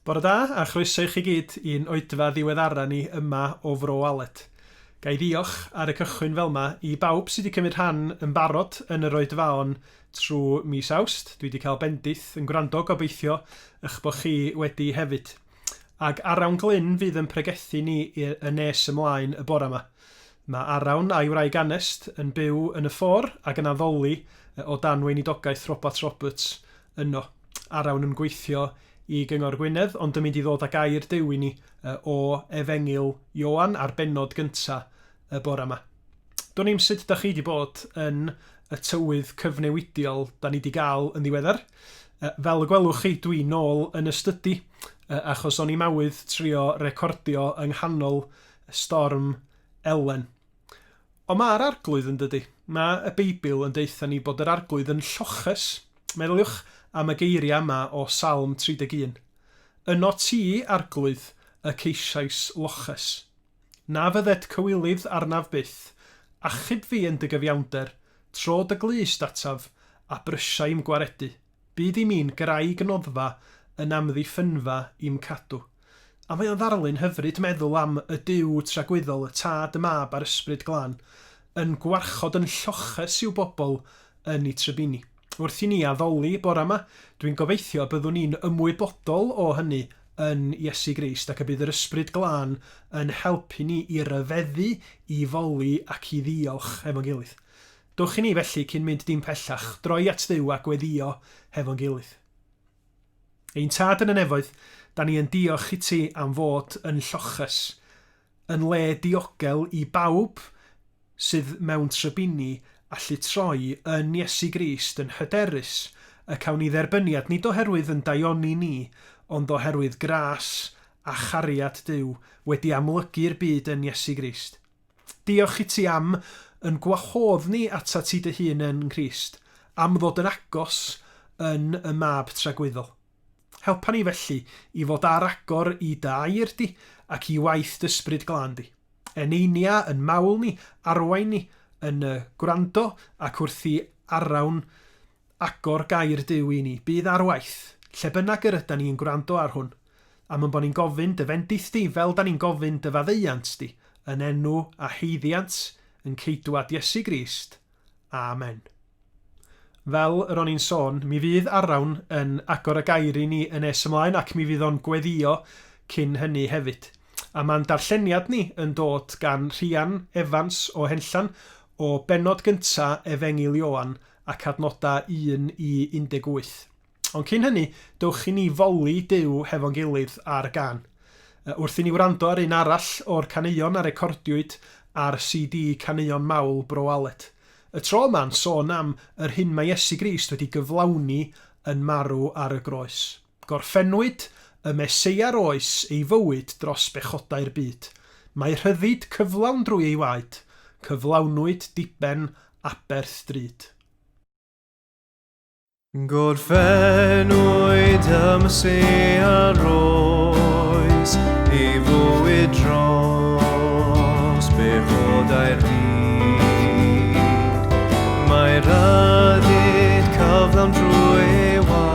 Bore da, a chroeso i chi gyd i'n oedfa ddiweddara ni yma o Fro Alet. Ga i ddiolch, ar y cychwyn fel 'ma, i bawb sy' 'di cymryd rhan yn barod yn yr oedfaon trw mis Awst, dwi 'di cael bendith yn gwrando, gobeithio 'ych bo' chi wedi hefyd. Ag Arawn Glyn fydd yn pregethu ni y nes ymlaen y bore 'ma. Mae Arawn a'i wraig Anest yn byw yn y Ffor ac yn addoli o dan weinidogaeth Robat Roberts yno. Arawn yn gweithio i Gyngor Gwynedd ond yn mynd i ddod â gair Duw i ni o Efengyl Ioan a'r bennod gynta y bore yma. Dwn i'm sut da chi 'di bod yn y tywydd cyfnewidiol da ni 'di gael yn ddiweddar. Fel y gwelwch chi dwi nôl yn y stydi achos o'n i'm awydd trio recordio yng nghanol Storm Elen. Ond mae'r Arglwydd yn dydy. Mae y Beibl yn deutha ni bod yr Arglwydd yn lloches. Meddyliwch am y geiriau yma o Salm 31. Yno ti, Arglwydd, y ceisiais loches. Na fyddet cywilydd arnaf byth. Achub fi yn dy gyfiawnder, tro dy glust ataf, a brysiai'm gwaredu. Byd i mi'n graig noddfa yn amddiffynfa i'm cadw. A mae o'n ddarlun hyfryd meddwl am y Duw tragwyddol y Tad y Mab a'r Ysbryd Glân yn gwarchod yn lloches i'w bobl yn i trybini. Wrth i ni addoli bora 'ma, dwi'n gobeithio y byddwn ni'n ymwybodol o hynny yn Iesu Grist ac y bydd yr Ysbryd Glân yn helpu ni i ryfeddu, i foli ac i ddiolch efo'n gilydd. Dowch i ni, felly, cyn mynd dim pellach, droi at Dduw a gweddïo hefo'n gilydd. Ein Tad yn y Nefoedd, da ni yn diolch i ti am fod yn lloches, yn le diogel i bawb sydd mewn trybini allu troi yn Iesu Grist yn hyderus y cawn ni dderbyniad, nid oherwydd yn daioni ni, ond oherwydd gras a chariad Duw wedi amlygu'r byd yn Iesu Grist. Diolch i ti am yn gwahodd ni atat ti dy hun yn Nghrist, am ddod yn agos yn y Mab Tragwyddol. Helpa ni felly i fod ar agor i dy air di ac i waith d'Ysbryd Glân di. Eneinia yn mawl ni, arwain ni yn y gwrando ac wrth i arawn Agor gair Duw i ni. Bydd ar waith, lle bynnag yr ydan ni yn gwrando ar hwn. Am yn bo ni'n gofyn dy fendith di, fel dan ni'n gofyn dy faddeuant di, yn enw a haeddiant yn Ceidwad Iesu Grist. Amen. Fel yr o'n i'n sôn, mi fydd Arawn yn agor y gair i ni yn nes ymlaen ac mi fydd o'n gweddio cyn hynny hefyd. A ma'n darlleniad ni yn dod gan Rhian Evans o Henllan o bennod gynta Efengyl Ioan ac adnodau 1 i 18. Ond cyn hynny, dewch i ni foli Duw hefo'n gilydd ar gân. Wrth i ni wrando ar un arall o'r caneuon a recordiwyd ar CD Caneuon Mawl Bro Aled. Y tro yma'n sôn am yr hyn mae Iesu Grist wedi gyflawni yn marw ar y groes. Gorffennwyd y Mesea'r oes ei fywyd dros bechodau'r byd. Mae rhyddid cyflawn drwy ei waed, cyflawnwyd diben aberth drud. Gorffennwyd y Mesea'r oes ei fywyd dros bechodau'r byd. Mae rhyddid cyflawn drwy ei waed.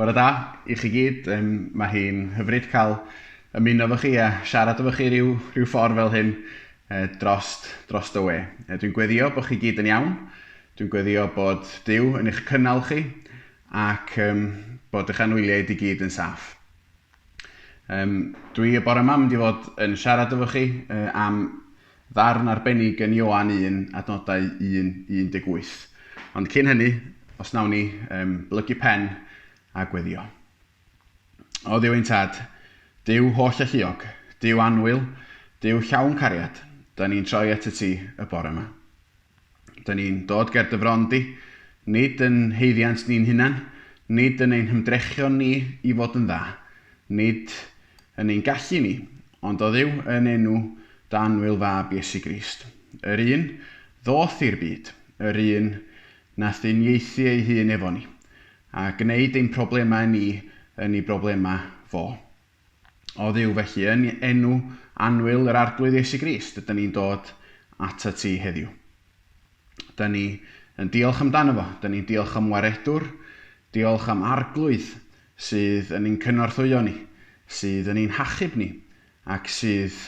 Bore da i chi gyd, um, mae hi'n hyfryd cael ymuno efo chi a siarad efo chi rhyw, rhyw ffordd fel hyn e, drost, drost y we. E, dwi'n gweddio bod chi gyd yn iawn, dwi'n gweddio bod Dyw yn eich cynnal chi ac um, bod eich anwyliaid i gyd yn saff. Um, dwi y bore mam di fod yn siarad efo chi uh, am ddarn arbennig yn Ioan 1, adnodau 1 i 18. Ond cyn hynny, os nawn ni um, blygu pen a gweddio. O ddiw ein tad, diw holl alluog, diw anwyl, diw llawn cariad, da ni'n troi at y ti y bore yma. Dŷn ni'n dod ger dy fron di, nid yn haeddiant ni'n hunan, nid yn ein hymdrechion ni i fod yn dda, nid yn ein gallu ni, ond o Dduw yn enw d'anwyl fab Iesu Grist, yr un ddoth i'r byd, yr un nath uniaethu ei hun efo ni, a gneud ein problemau ni yn ei broblemau fo. O Dduw, felly, yn enw annwyl yr Arglwydd Iesu Grist, ydyn ni'n dod atat ti heddiw. Ydyn ni yn diolch amdano fo. Ydyn ni'n diolch am waredwr. Diolch am arglwydd sydd yn ein cynorthwyo ni, sydd yn ein hachub ni, ac sydd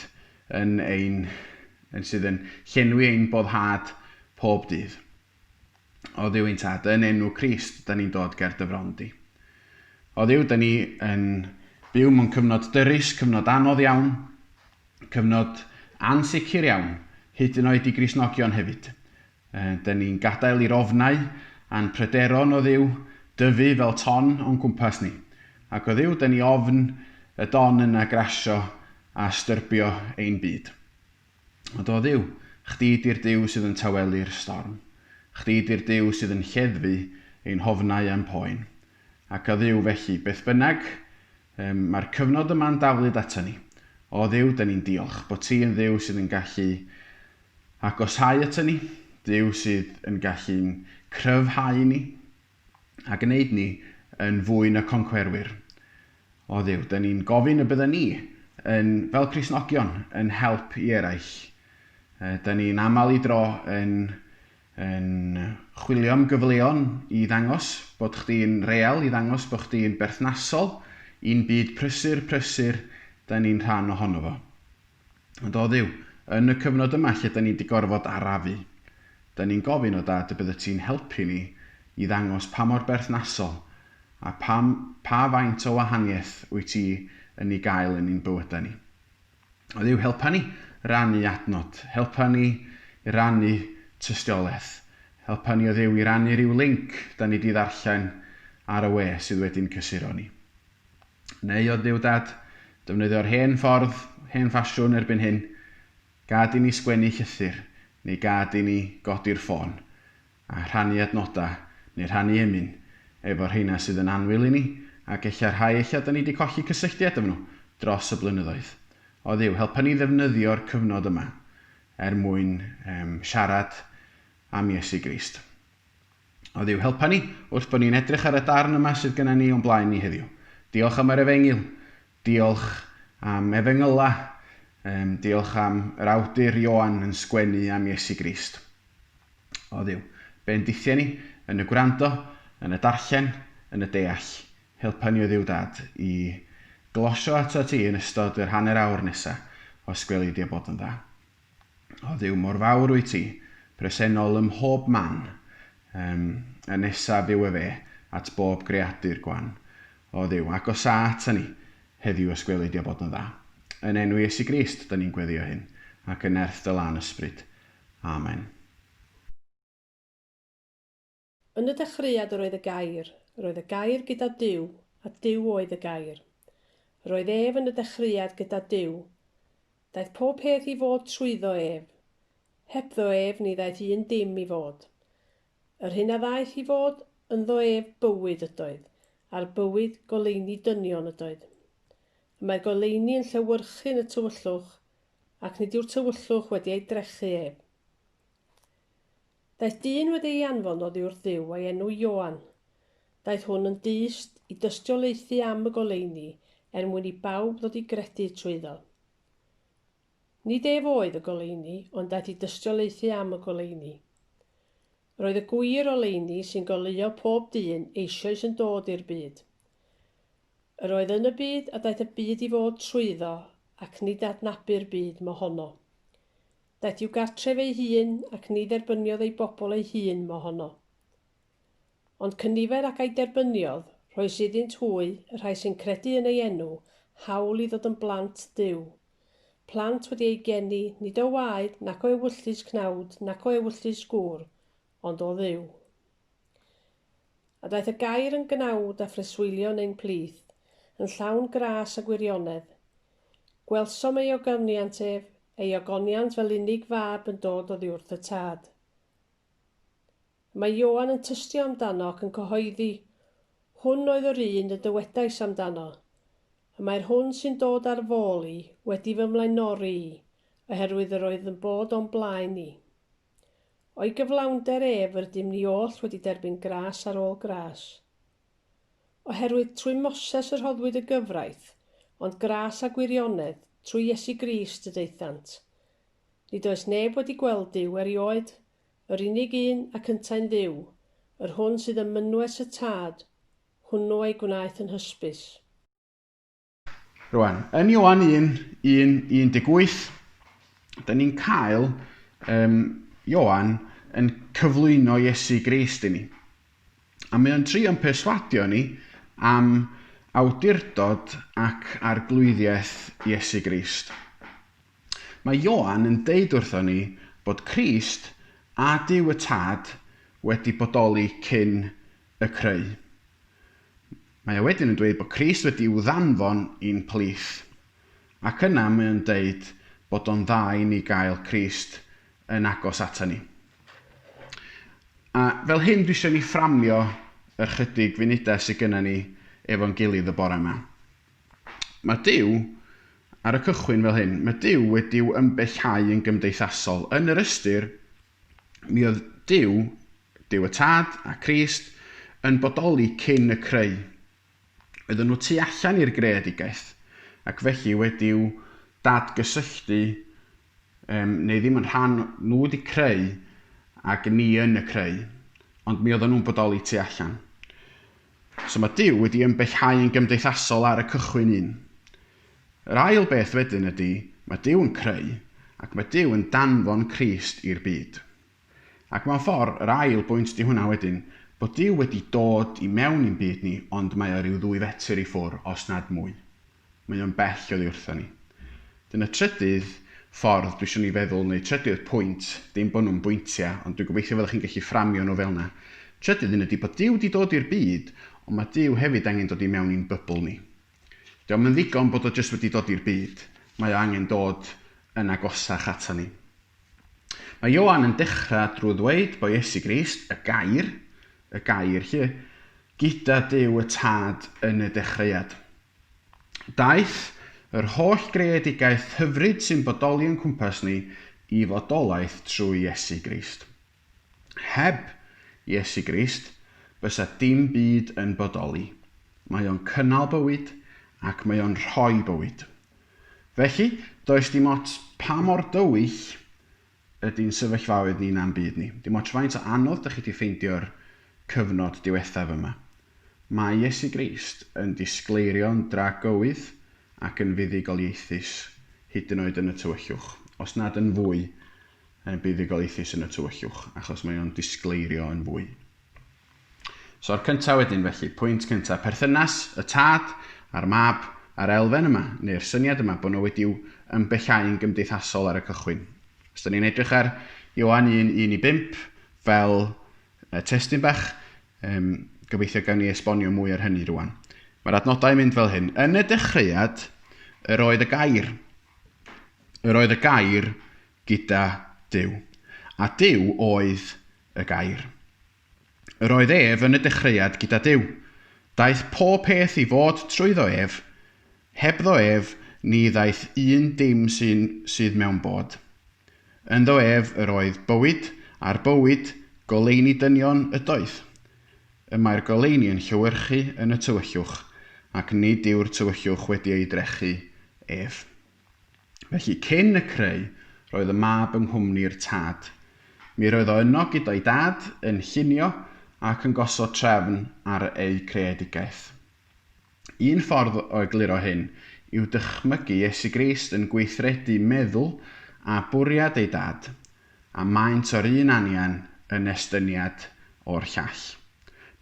yn ein, yn sydd yn llenwi ein boddhad pob dydd. Oddiw ein Tad, yn enw Crist, da ni'n dod ger dy fron di. Oddiw, da ni yn byw mewn cyfnod dyrus, cyfnod anodd iawn, cyfnod ansicr iawn, hyd yn oed i grisnogion hefyd. Da ni'n gadael i'r ofnau a'n pryderon o ddiw dyfu fel ton o'n cwmpas ni. Ac o ddiw, da ni ofn y don yna grasio a styrbio ein byd. O do, Dduw, chdi 'di'r Duw sydd yn tawelu'r storm. Chdi 'di'r Duw sydd yn lleddfu ein hofnau a'n poen. Ac, o Dduw, felly, beth bynnag, yym, mae'r cyfnod yma'n daflud aton ni. O Dduw, 'da ni'n diolch bod ti yn Dduw sydd yn gallu agosáu aton ni, Duw sydd yn gallu'n cryfhau ni, a gwneud ni yn fwy na concwerwyr. O Dduw, dŷn ni'n gofyn y bydden ni, yn, fel Cristnogion, yn help i eraill. Dŷn ni'n aml i dro yn, yn chwilio am gyfleon i ddangos bod chdi'n real, i ddangos bod chdi'n berthnasol i'n byd prysur, prysur, dŷn ni'n rhan ohono fo. Ond o Dduw, yn y cyfnod yma lle da ni di gorfod arafu, da ni'n gofyn, o Dad, y byddet ti'n helpu ni i ddangos pa mor berthnasol a pa, pa faint o wahaniaeth wyt ti yn ei gael yn ein bywydau ni. O Dduw, helpa ni rannu adnod, helpa ni i rannu tystiolaeth, helpa ni o Dduw i rannu rhyw linc da ni di ddarllen ar y we sydd wedi'n cysuro ni. Neu oedd Duw Dad? Defnyddio'r hen ffordd, hen ffasiwn erbyn hyn, gad i ni sgwennu llythyr, neu gad i ni godi'r ffôn, a rhannu adnodau, neu rhannu emyn, efo rheina sydd yn annwyl i ni, ac ella rhai ella da ni di colli cysylltiad efo nhw dros y blynyddoedd. O Dduw, helpa ni ddefnyddio'r cyfnod yma er mwyn siarad am Iesu Grist. oedd i'w helpa ni wrth bod ni'n edrych ar y darn yma sydd gennym ni o'n blaen ni heddiw. Diolch am yr efengyl. Diolch am efengyla. Um, diolch am yr awdur Ioan yn sgwennu am Iesu Grist. Oedd yw bendithiau ni yn y gwrando, yn y darllen, yn y deall. Helpa ni oedd yw dad i glosio ato ti yn ystod yr hanner awr nesa, os gweli di a bod yn dda. O Dduw, mor fawr wyt ti, presennol ym mhob man. Yym, yn nesaf yw efe at bob greadur gwan. O Dduw, agosa ata ni heddiw os gweli di a bod yn dda. Yn enw Iesu Grist, da ni'n gweddio hyn, ac yn nerth dy lân ysbryd. Amen. Yn y dechreuad yr oedd y Gair, yr oedd y Gair gyda Duw, a Duw oedd y Gair. Yr oedd ef yn y dechreuad gyda Duw. Daeth pob peth i fod trwyddo ef. Hebddo ef ni ddaeth un dim i fod. Yr hyn a ddaeth i fod ynddo ef bywyd ydoedd, a'r bywyd goleuni dynion ydoedd. Y mae'r goleuni yn llewyrchu yn y tywyllwch, ac nid yw'r tywyllwch wedi ei drechu ef. Daeth dyn wedi ei anfon oddi wrth Dduw a'i enw Ioan. Daeth hwn yn dyst i dystiolaethu am y goleuni er mwyn i bawb ddod i gredu trwyddo. Nid ef oedd y goleuni, ond daeth i dystiolaethu am y goleuni. Roedd y gwir oleuni sy'n goleuo pob dyn eisioes yn dod i'r byd. Yr oedd yn y byd a daeth y byd i fod trwyddo ac nid adnabu'r byd mohono. Daeth i'w gartref ei hun ac ni dderbyniodd ei bobl ei hun mohono. Ond cynifer ac a'i derbyniodd, rhoes iddynt hwy, y rhai sy'n credu yn ei enw, hawl i ddod yn blant Duw. Plant wedi eu geni, nid o waed, nac o ewyllys cnawd, nac o ewyllys gŵr, ond o Dduw. A daeth y Gair yn gnawd a phreswylio yn ein plith, yn llawn gras a gwirionedd. Gwelsom ei ogoniant ef, ei ogoniant fel unig fab yn dod oddiwrth y Tad. Y mae Ioan yn tystio amdano ac yn cyhoeddi, Hwn oedd yr un y dywedais amdano, Y mae'r hwn sy'n dod ar fôl i wedi fy mlaenori i, oherwydd yr oedd yn bod o'm blaen i. O'i gyflawnder ef yr ydym ni oll wedi derbyn gras ar ôl gras. Oherwydd trwy Moses y rhoddwyd y gyfraith, ond gras a gwirionedd trwy Iesu Grist y daethant. Nid oes neb wedi gweld Duw erioed, yr unig un ac yntau'n Dduw, yr hwn sydd ym mynwes y Tad, hwnnw ei gwnaeth yn hysbys. Rwan, yn Ioan 1, 1, 18, da ni'n cael um, Ioan yn cyflwyno Iesu Grist i ni. A mae o'n trio'n perswadio ni am awdurdod ac arglwyddiaeth Iesu Grist. Mae Ioan yn deud wrtho ni bod Crist a Dyw y Tad wedi bodoli cyn y creu. Mae o wedyn yn dweud bod Crist wedi'w ddanfon i'n plith. Ac yna mae o'n deud bod o'n dda i ni gael Crist yn agos ata ni. A fel hyn dwi isio ni fframio yr chydig funudau sydd gyna ni efo'n gilydd y bore yma. Mae Duw, ar y cychwyn fel hyn, mae Duw wedi'w ymbellhau yn gymdeithasol, yn yr ystyr Mi oedd Duw, Duw y Tad a Christ, yn bodoli cyn y creu. Oedden nhw tu allan i'r greadigaeth, ac felly wedi'w dadgysylltu, um, neu ddim yn rhan, nhw wedi creu, ac ni yn y creu. Ond mi oedden nhw'n bodoli tu allan. So mae Duw wedi ymbellhau yn gymdeithasol ar y cychwyn un. Yr ail beth wedyn ydy, mae Duw yn creu, ac mae Duw yn danfon Crist i'r byd. Ac mewn ffordd, yr ail bwynt ydy hwnna wedyn, bod Duw wedi dod i mewn i'n byd ni, ond mae o ryw ddwy fetr i ffwr, os nad mwy. Mae o'n bell oddi wrtha ni. Dyna trydydd ffordd dwi isio ni feddwl, neu trydydd pwynt, dim bod nhw'n bwyntia, ond dwi'n gobeithio fydda chi'n gallu fframio nhw fel 'na. Trydydd un ydi bod Duw 'di dod i'r byd, ond mae Duw hefyd angen dod i mewn i'n bybl ni. Dio'm yn ddigon bod o jyst wedi dod i'r byd, mae o angen dod yn agosach ata ni. Mae Ioan yn dechra drwy ddweud bod Iesu Grist, y Gair, y Gair 'lly, gyda Duw y Tad yn y dechreuad. Daeth yr holl greadigaeth hyfryd sy'n bodoli o'n cwmpas ni i fodolaeth trwy Iesu Grist. Heb Iesu Grist, bysa dim byd yn bodoli. Mae o'n cynnal bywyd ac mae o'n rhoi bywyd. Felly, does dim ots pa mor dywyll Ydy ein sefyllfaoedd ni na'n byd ni. Dim ots faint o anodd dych chi 'di ffeindio'r cyfnod diwethaf yma, mae Iesu Grist yn disgleirio'n dra gywydd ac yn fuddugoliaethus, hyd yn oed yn y tywyllwch, os nad yn fwy buddugoliaethus yn y tywyllwch, achos mae o'n disgleirio yn fwy. So'r cynta wedyn felly, pwynt cynta, perthynas y tad a'r mab a'r elfen yma, neu'r syniad yma bod nhw wedi'w ymbellhau'n gymdeithasol ar y cychwyn. Os da ni'n edrych ar Ioan 1, 1 i 5, fel y testyn bach, um, gobeithio gawn ni esbonio mwy ar hynny rwan. Mae'r adnodau yn mynd fel hyn. Yn y dechreuad, yr oedd y gair. Yr oedd y gair gyda Dyw. A Dyw oedd y gair. Yr oedd ef yn y dechreuad gyda Duw. Daeth pob peth i fod trwyddo ef. Hebddo ef ni ddaeth un dim sy'n sydd mewn bod. Ynddo ef yr oedd bywyd, a'r bywyd, goleuni dynion ydoedd. Y mae'r goleuni yn llewyrchu yn y tywyllwch, ac nid yw'r tywyllwch wedi ei drechu ef. Felly, cyn y creu, roedd y mab yng nghwmni'r tad. Mi roedd o yno gyda'i dad, yn llunio ac yn gosod trefn ar eu creadigaeth. Un ffordd o egluro hyn yw dychmygu Iesu Grist yn gweithredu meddwl a bwriad ei Dad, a maent o'r un anian yn estyniad o'r llall.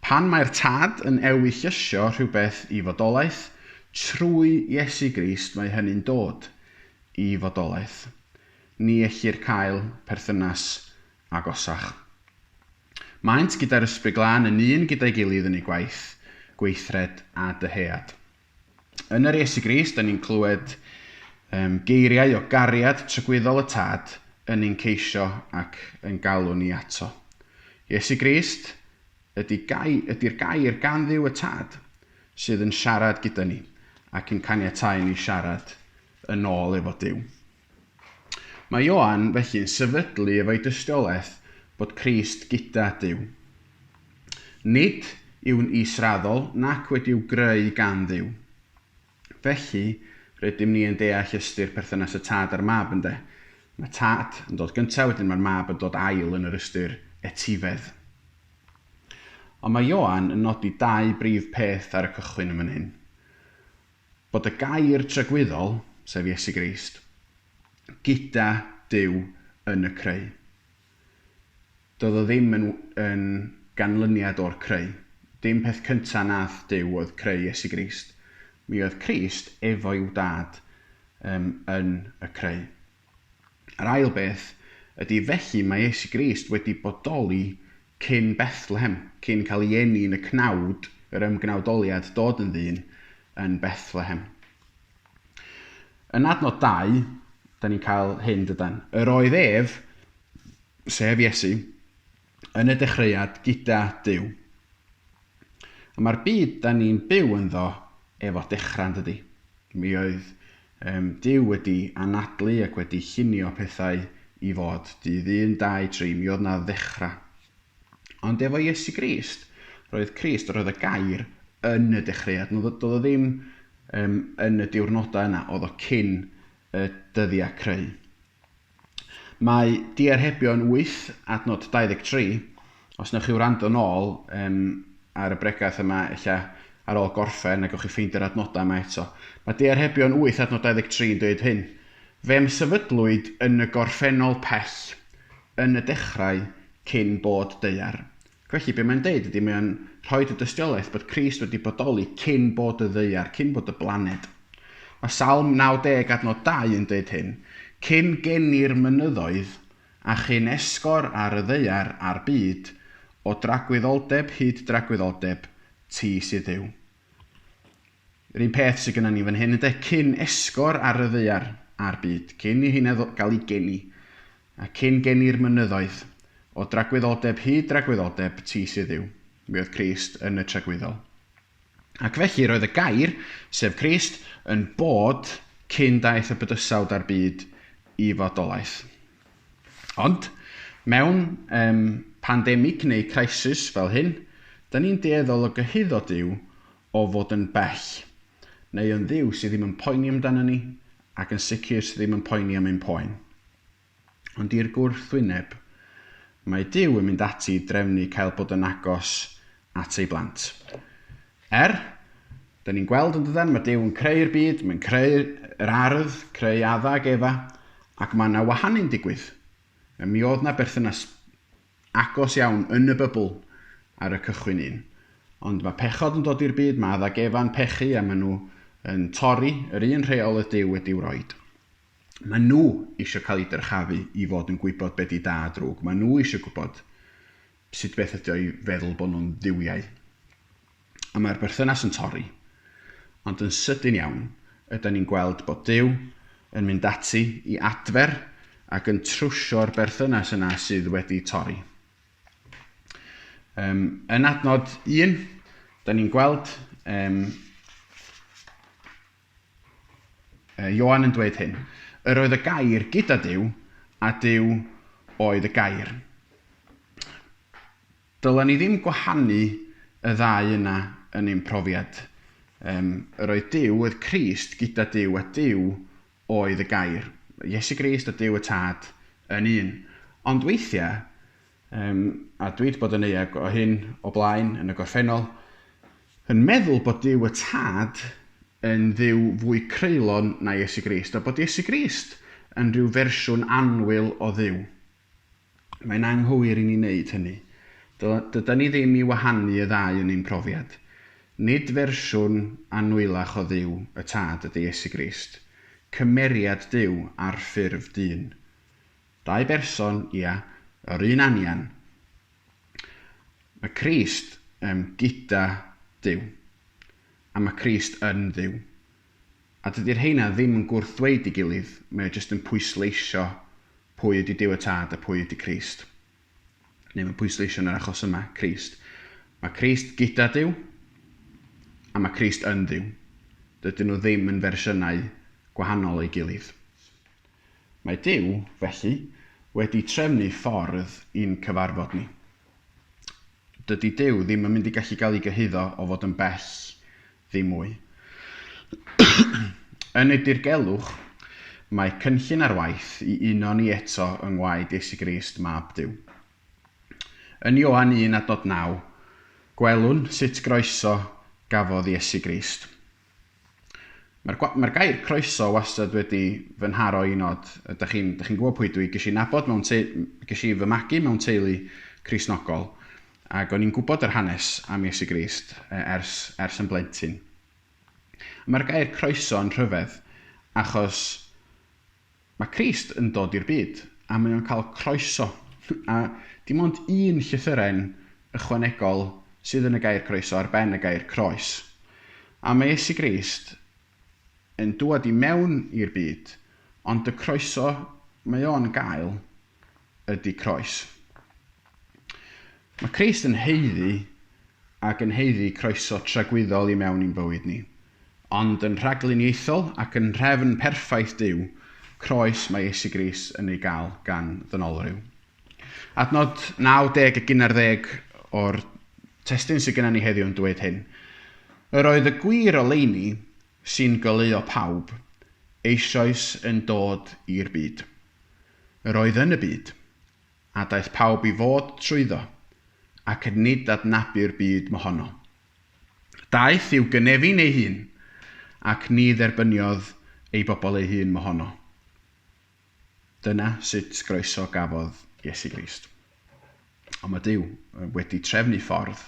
Pan mae'r Tad yn ewyllysio rhywbeth i fodolaeth, trwy Iesu Grist mae hynny'n dod i fodolaeth. Ni ellir cael perthynas agosach. Maent gyda'r Ysbryd Glân yn un gyda'i gilydd yn eu gwaith, gweithred a dyhead. Yn yr Iesu Grist, da ni'n clywed um, geiriau o gariad trygwyddol y Tad yn ein ceisio ac yn galw ni ato. Iesu Grist ydy'r gai, ydy gair gan ddiw y Tad sydd yn siarad gyda ni ac yn caniatau ni siarad yn ôl efo Dyw. Mae Ioan felly'n sefydlu efo'i dystiolaeth bod Crist gyda Duw. Nid yw'n israddol nac wedi'w greu gan Dduw. Felly, rydym ni yn deall ystyr perthynas y Tad a'r Mab, ynde? Mae Tad yn dod gyntaf, wedyn mae'r Mab yn dod ail yn yr ystyr etifedd. Ond mae Ioan yn nodi dau brif peth ar y cychwyn yn fan hyn. Bod y gair tragwyddol, sef Iesu Grist, gyda Duw yn y creu. Doedd o ddim yn yn ganlyniad o'r creu. Dim peth cynta nath Duw oedd creu Iesu Grist. Mi oedd Crist efo i'w Dad um, yn y creu. Yr ail beth ydy, felly, mae Iesu Grist wedi bodoli cyn Bethlehem, cyn cael ei eni yn y cnawd, yr ymgnawdoliad, dod yn ddyn yn Bethlehem. Yn adnod 2, da ni'n cael hyn, dydan. Yr oedd ef, sef Iesu, yn y dechreuad gyda Duw. A mae'r byd da ni'n byw ynddo efo dechrau yn dydi? Mi oedd um, Duw wedi anadlu ac wedi llunio pethau i fod. Dydd un, dau, tri, mi oedd na ddechrau. Ond efo Iesu Grist, roedd Crist, roedd y gair yn y dechreuad. Doedd o ddim um, yn y diwrnodau yna, oedd o cyn y dyddiau creu. Mae diarhebio yn wyth, adnod 23. Os newch chi wrando nôl um, ar y bregaeth yma, ella ar ôl gorffen, a gawch chi ffeindio'r adnodau yma eto. Mae diarhebio yn wyth, adnod 23 yn dweud hyn. Fe'm sefydlwyd yn y gorffennol pell, yn y dechrau, cyn bod deuar. Felly, be mae'n deud ydy, mae o'n rhoid y dystiolaeth bod Crist wedi bodoli cyn bod y ddaear, cyn bod y blaned. Mae Salm 90 adnod 2 yn deud hyn, Cyn geni'r mynyddoedd, a chyn esgor ar y ddaear a'r byd, o dragwyddoldeb hyd dragwyddoldeb, ti sydd Dduw. Yr un peth sydd gynnon ni fan hyn ynde? Cyn esgor ar y ddaear a'r byd, cyn i heina ddo- gael eu geni, a cyn geni'r mynyddoedd, o dragwyddoldeb hyd dragwyddoldeb, ti sydd Dduw. Mi oedd Crist yn y tragwyddol. Ac felly roedd y Gair, sef Crist, yn bod cyn daeth y bydysawd a'r byd i fodolaeth. Ond, mewn um, pandemig neu crisis fel hyn, da ni'n dueddol o gyhuddo Duw o fod yn bell, neu yn Dduw sydd ddim yn poeni amdano ni, ac yn sicr sydd ddim yn poeni am ein poen. Ond i'r gwrthwyneb, mae Duw yn mynd ati i drefnu cael bod yn agos at ei blant. Er, da ni'n gweld yn dydan, mae Duw yn creu'r byd, mae'n creu yr ardd, creu adda ac efa, ac mae yna wahanu'n digwydd. Mi oedd na berthynas agos iawn yn y bybl ar y cychwyn un. Ond mae pechod yn dod i'r byd, mae Adda Gefan pechu a maen nhw yn torri yr un rheol oedd Duw wedi'w roed. Maen nhw eisiau cael eu dyrchafu i fod yn gwybod be di da a drwg, maen nhw eisiau gwybod sut beth ydi o i feddwl bod nhw'n dduwiau. A mae'r berthynas yn torri. Ond yn sydyn iawn, ydyn ni'n gweld bod Duw yn mynd ati i adfer ac yn trwsio'r berthynas yna sydd wedi torri. Um, yn adnod un, da ni'n gweld um, Johan yn dweud hyn. Yr oedd y gair gyda Dyw, a Dyw oedd y gair. Dylen ni ddim gwahanu y ddau yna yn ein profiad. Yym, yr oedd Duw oedd Crist gyda Duw a Duw oedd y Gair, Iesu Grist a Duw y Tad yn un. Ond weithiau, yym, a dwi wedi bod yn euog o hyn o blaen yn y gorffennol, yn meddwl bod Duw y Tad yn Dduw fwy creulon na Iesu Grist, a bod Iesu Grist yn rhyw fersiwn annwyl o Dduw. Mae'n anghywir i ni wneud hynny. Do, dydan ni ddim i wahanu y ddau yn ein profiad. Nid fersiwn annwyllach o Dduw y Tad ydy Iesu Grist. Cymeriad Duw ar ffurf dyn. Dau berson, ia, yr un anian. Mae Crist, yym, gyda Duw. A mae Crist yn Dduw. A dydy'r rheina ddim yn gwrth ddweud i gilydd, mae o jyst yn pwysleisio pwy ydy Duw y Tad a pwy ydy Crist. Neu mae'n pwysleisio yn yr achos yma, Crist. Mae Crist gyda Duw, a mae Crist yn Dduw. Dydyn nhw ddim yn fersiynau gwahanol o'i gilydd. Mae Duw, felly, wedi trefnu ffordd i'n cyfarfod ni. Dydy Duw ddim yn mynd i gallu cael ei gyhuddo o fod yn bell Ddim mwy. Yn y dirgelwch, mae cynllun ar waith i uno ni eto yng ngwaed Iesu Grist, Mab Duw. Yn Ioan un a dod naw, gwelwn sut groeso gafodd Iesu Grist. Mae'r mae'r gair croeso wastad wedi fy nharo i nod. Ydych chi'n chi'n gwybod pwy dwi? Ges i nabod mewn te, ges i fy magu mewn teulu Cristnogol. Ac o'n i'n gwybod yr hanes am Iesu Grist ers, ers yn blentyn. Mae'r gair croeso yn rhyfedd, achos mae Crist yn dod i'r byd, a mae o'n cael croeso. A dim ond un llythyren ychwanegol sydd yn y gair croeso ar ben y gair croes. A mae Iesu Grist yn dŵad i mewn i'r byd, ond y croeso mae o'n gael ydy croes. Mae Crist yn haeddu ac yn haeddu croeso tragwyddol i mewn i'n bywyd ni, ond yn rhagluniaethol ac yn nhrefn perffaith Duw, croes mae Iesu Grist yn ei gael gan ddynolryw. Adnod 90 ac un ar ddeg o'r testun sydd gennym ni heddiw yn dweud hyn, Yr oedd y gwir oleuni, sy'n goleuo pawb, eisoes yn dod i'r byd. Yr oedd yn y byd, a daeth pawb i fod trwyddo, ac nid adnabu'r byd mohono. Daeth i'w gynefin ei hun, ac ni dderbyniodd ei bobl ei hun mohono. Dyna sut groeso gafodd Iesu Grist. Ond mae Duw wedi trefnu ffordd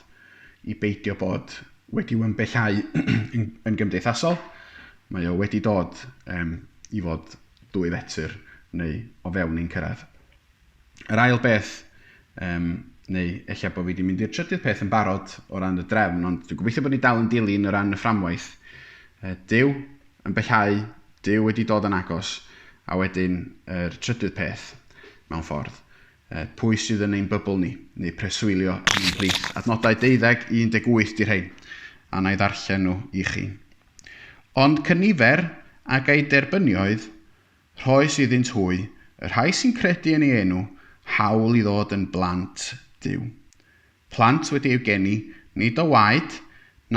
i beidio bod wedi ymbellhau yn gymdeithasol, mae o wedi dod i fod dwy fetr neu o fewn ein cyrraedd. Yr ail beth, um, neu ella bod fi wedi mynd i'r trydydd peth yn barod o ran y drefn, ond dwi'n gobeithio bod ni dal yn dilyn o ran y fframwaith. Uh, Dyw yn bellhau, Dyw wedi dod yn agos, a wedyn yr er trydydd peth, mewn ffordd, uh, pwy sydd yn ein bybl ni, neu preswylio yn ein plith. Adnodau 12 i 18 di rhain, a na i ddarllen nhw i chi. Ond cynifer a ei derbyniaeth Rhoes iddynt hwy, y rhai sy'n credu yn ei enw, hawl i ddod yn blant Duw. Plant wedi eu geni, nid o waed,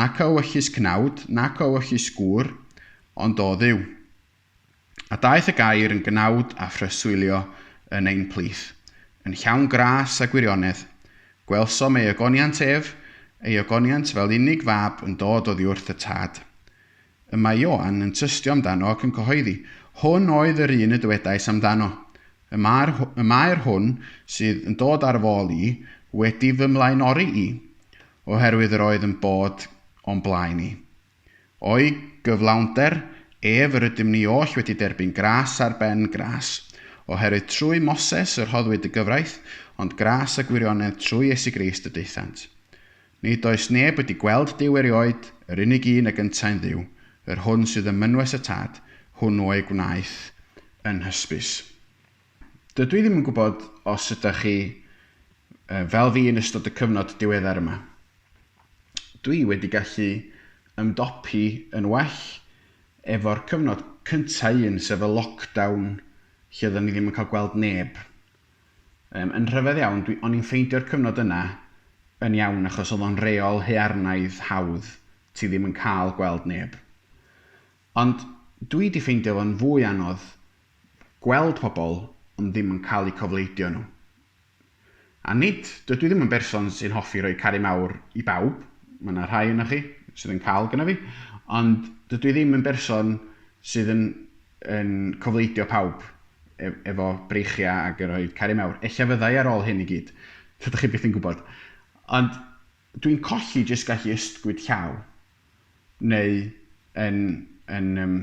nac o ewyllys cnawd, nac o ewyllys gŵr, ond o Dduw. A daeth y Gair yn gnawd a phreswylio yn ein plith, yn llawn gras a gwirionedd. Gwelsom ei ogoniant ef, ei ogoniant fel unig fab yn dod oddiwrth y Tad. Y mae Ioan yn tystio amdano ac yn cyhoeddi, Hwn oedd yr un y dywedais amdano, Y mae'r, y mae'r hwn sydd yn dod ar fôl i wedi fy mlaenori i, oherwydd yr oedd yn bod o'n blaen i. O'i gyflawnder ef yr ydym ni oll wedi derbyn gras ar ben gras, oherwydd trwy Moses y rhoddwyd y gyfraith, ond gras a gwirionedd trwy Iesu Grist y daethant. Nid oes neb wedi gweld Duw erioed, yr unig un a gyntai'n Dduw, yr hwn sydd ym mynwes y Tad, hwnnw ei gwnaeth yn hysbys. Dydw i ddim yn gwybod os ydych chi fel fi yn ystod y cyfnod diweddar yma. Dw i wedi gallu ymdopi yn well efo'r cyfnod cyntaf un, sef y lockdown lle oedden ni ddim yn cael gweld neb. Yym, yn rhyfedd iawn, dwi, o'n i'n ffeindio'r cyfnod yna yn iawn achos oedd o'n reol haearnaidd hawdd, ti ddim yn cael gweld neb. Ond dwi 'di ffeindio fo'n fwy anodd gweld pobl ond ddim yn cael eu cofleidio nhw. A nid, dydw i ddim yn berson sy'n hoffi rhoi caru mawr i bawb, mae yna rhai ohonoch chi sydd yn cael gynna fi, ond dydw i ddim yn berson sydd yn yn cofleidio pawb ef- efo breichiau ac yn rhoi cariad mawr. Ella fyddai ar ôl hyn i gyd. Tydych chi byth yn gwybod. Ond dwi'n colli jyst gallu ystgwyd llaw neu yn, yn um,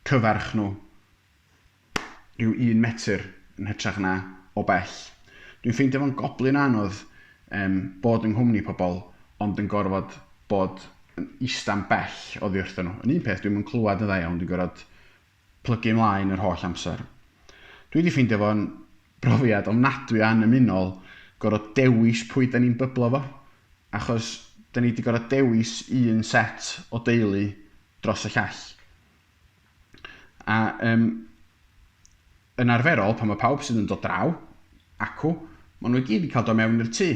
cyfarch nhw rhyw un metr yn hytrach na o bell. Dwi'n ffeindio fo'n goblyn o anodd Yym, bod yng nghwmni pobl, ond yn gorfod bod yn ista'n bell oddi wrthyn nhw. Yn un peth, dwi'm yn clywed yn dda iawn, dwi'n gorfod plygu ymlaen yr holl amser. Dwi wedi ffeindio fo'n brofiad ofnadwy o annymunol gorfod dewis pwy da ni'n byblo fo, achos da ni wedi gorfod dewis un set o deulu dros y llall. A yym, yn arferol, pan mae pawb sydd yn dod draw, acw, maen nhw i gyd yn cael dod mewn i'r tŷ.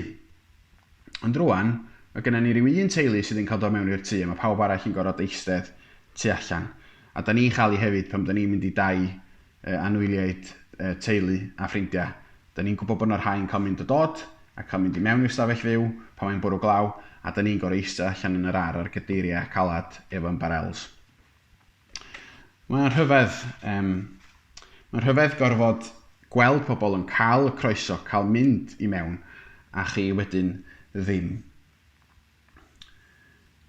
Ond rwan, mae gennym ni ryw un teulu sydd yn cael dod mewn i'r tŷ a mae pawb arall yn gorfod eistedd tu allan. A da ni'n chael i hefyd pan da ni'n mynd i dai uh, anwyliaid uh, teulu a ffrindiau. Da ni'n gwybod bod yna rhai yn cael mynd a dod a cael mynd i mewn i'r stafell fyw pan mae'n bwrw glaw a da ni'n gorfod eistedd allan yn yr ar ar gadeiriau calad efo ymbarels. Mae'n rhyfedd, um, mae'n rhyfedd gorfod gweld pobl yn cael y croeso, cael mynd i mewn, a chi wedyn ddim.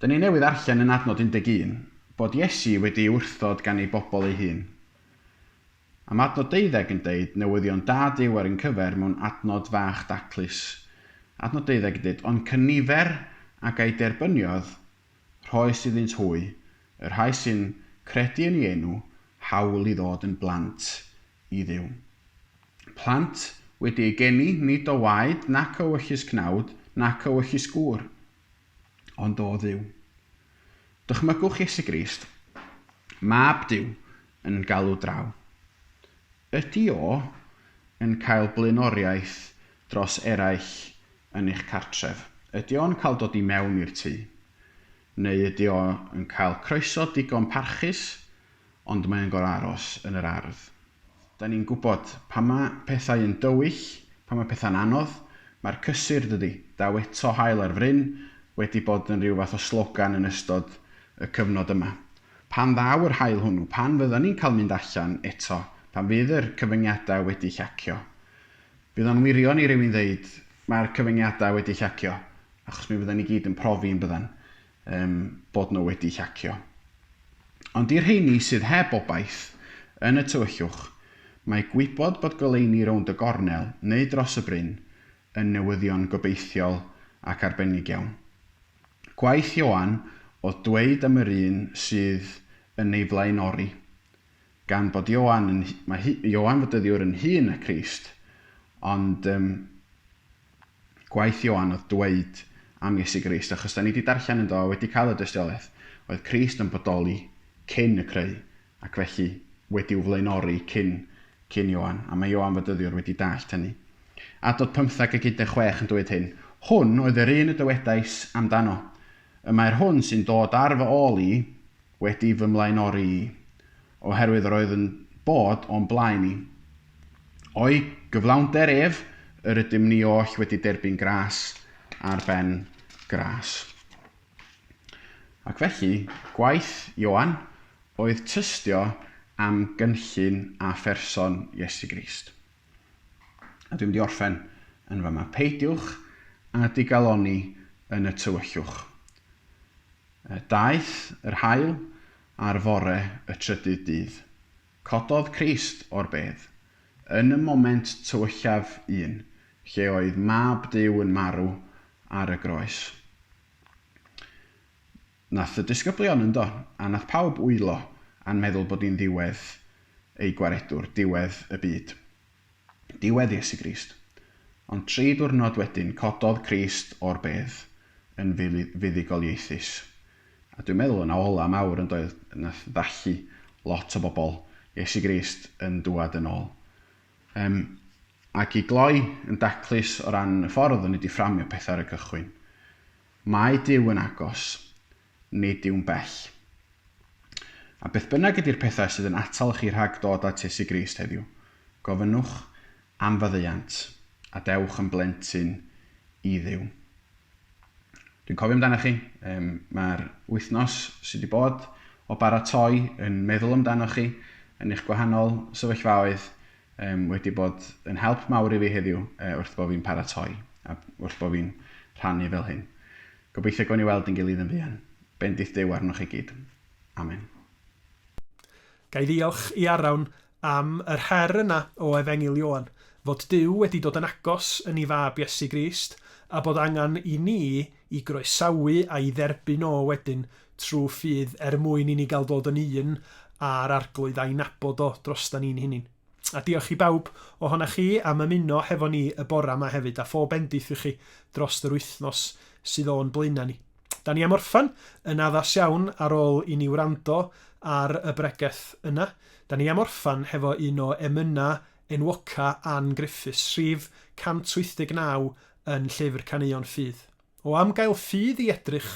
Dyna ni newydd arllen yn adnod 11 bod Iesu wedi wrthod gan ei bobl ei hun. Am adnod deuddeg yn deud newyddion da Dyw ar un cyfer mewn adnod fach daclus. Adnod deuddeg yn deud, ond cynifer a ga'i derbyniodd Rhoes iddynt hwy, y rhai sy'n credu yn ei enw, hawl i ddod yn blant i Dduw. Plant wedi eu geni nid o waed nac o wyllys cnawd nac o wyllys gŵr, ond o Dduw. Dychmygwch Iesu Grist, Mab Duw, yn galw draw. Ydy o yn cael blaenoriaeth dros eraill yn eich cartref. Ydy o'n cael dod i mewn i'r tŷ? Neu ydy o yn cael croeso digon parchus ond mae o'n gorfod aros yn yr ardd? Da ni'n gwybod, pan mae pethau yn dywyll, pan mae pethau'n anodd, mae'r cysur, dydy, daw eto haul ar fryn, wedi bod yn rhyw fath o slogan yn ystod y cyfnod yma. Pan ddaw yr haul hwnnw, pan fyddan ni'n cael mynd allan eto, pan fydd yr cyfyngiadau wedi llacio, Bydd o'n wirion i rywun ddeud, mae'r cyfyngiadau wedi llacio, achos mi fyddan ni gyd yn profi, yn byddan, yym, bod nhw wedi llacio. Ond i'r rheini sydd heb obaith, yn y tywyllwch, mae gwybod bod goleuni rownd y gornel neu dros y bryn yn newyddion gobeithiol ac arbennig iawn. Gwaeth Ioan oedd dweud am yr un sydd yn ei flaenori, Gan bod Ioan yn, mae hi, Ioan fod dyddiwr yn hun na Christ, ond um, gwaith Ioan oedd dweud am Iesu Grist, achos da ni wedi darllen ynddo a wedi cael y dystiolaeth, oedd Christ yn bodoli cyn y creu, ac felly wedi'w flaenori cyn, cyn Ioan, a mae Ioan fod dyddiwr wedi dallt hynny. Adod 15 ac 16 yn dweud hyn, Hwn oedd yr un y dywedais amdano, y mae'r hwn sy'n dod ar fy ôl i, wedi fy mlaenori i, oherwydd yr oedd yn bod o'n blaen i. O'i gyflawnder ef, yr ydym ni oll wedi derbyn gras ar ben gras. Ac felly, gwaith Ioan oedd tystio am gynllun a pherson Iesu Grist. A dwi'n mynd i orffen yn fama. Peidiwch â digalonni yn y tywyllwch. Daeth yr haul ar fore y trydydd dydd. Cododd Crist o'r bedd. Yn y moment tywyllaf un, lle oedd Mab Duw yn marw ar y groes. Nath y disgyblion yndo, a nath pawb wylo a'n meddwl bod hi'n ddiwedd eu gwaredwr, diwedd y byd. Diwedd Iesu Grist. Ond tri diwrnod wedyn, cododd Crist o'r bedd yn fuddugoliaethus. A dwi'n meddwl yna ola mawr yn doedd, nath ddallu lot o bobl, Iesu Grist yn dŵad yn ôl. Yym, ac i gloi yn daclus o ran y ffordd o'n i 'di fframio pethau ar y cychwyn. Mae Duw yn agos, nid yw'n bell. A beth bynnag ydy'r pethau sydd yn atal chi rhag dod at Iesu Grist heddiw, gofynnwch am faddeuant, a dewch yn blentyn i Dduw. Dwi'n cofio amdanoch chi, um, mae'r wythnos sydd wedi bod o baratoi yn meddwl amdanoch chi, yn eich gwahanol sefyllfaoedd, Yym, wedi bod yn help mawr i fi heddiw yy wrth bo fi'n paratoi a wrth bo fi'n rhannu fel hyn. Gobeithio gawn ni weld ein gilydd yn fuan. Bendith Duw arnoch chi gyd. Amen. Ga i ddiolch i Arawn am yr her yna o Efengyl Ioan, fod Duw wedi dod yn agos yn i Fab Iesu Grist, a bod angen i ni i groesawu a'i dderbyn o wedyn trwy ffydd er mwyn i ni gael dod yn un â'r Arglwydd a'i nabod o drostan ni'n hunin. A diolch i bawb ohonoch chi am ymuno hefo ni y bora yma hefyd, a phob bendith i chi drost yr wythnos sydd o'n blaenau ni. Da ni am orffan yn addas iawn ar ôl i ni wrando ar y bregeth yna. Da ni am orffan hefo un o emyna enwoca Ann Griffiths, rhif 189 yn Llyfr Caneuon Ffydd. o am gael ffydd i edrych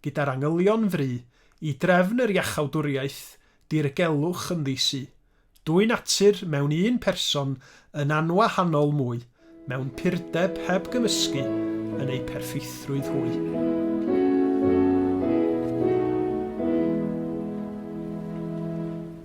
gyda'r angylion fry i drefn yr iachawdwriaeth dirgelwch yn ddi-su, dwy natur mewn un person yn anwahanol mwy mewn purdeb heb gymysgu yn eu perffeithrwydd hwy.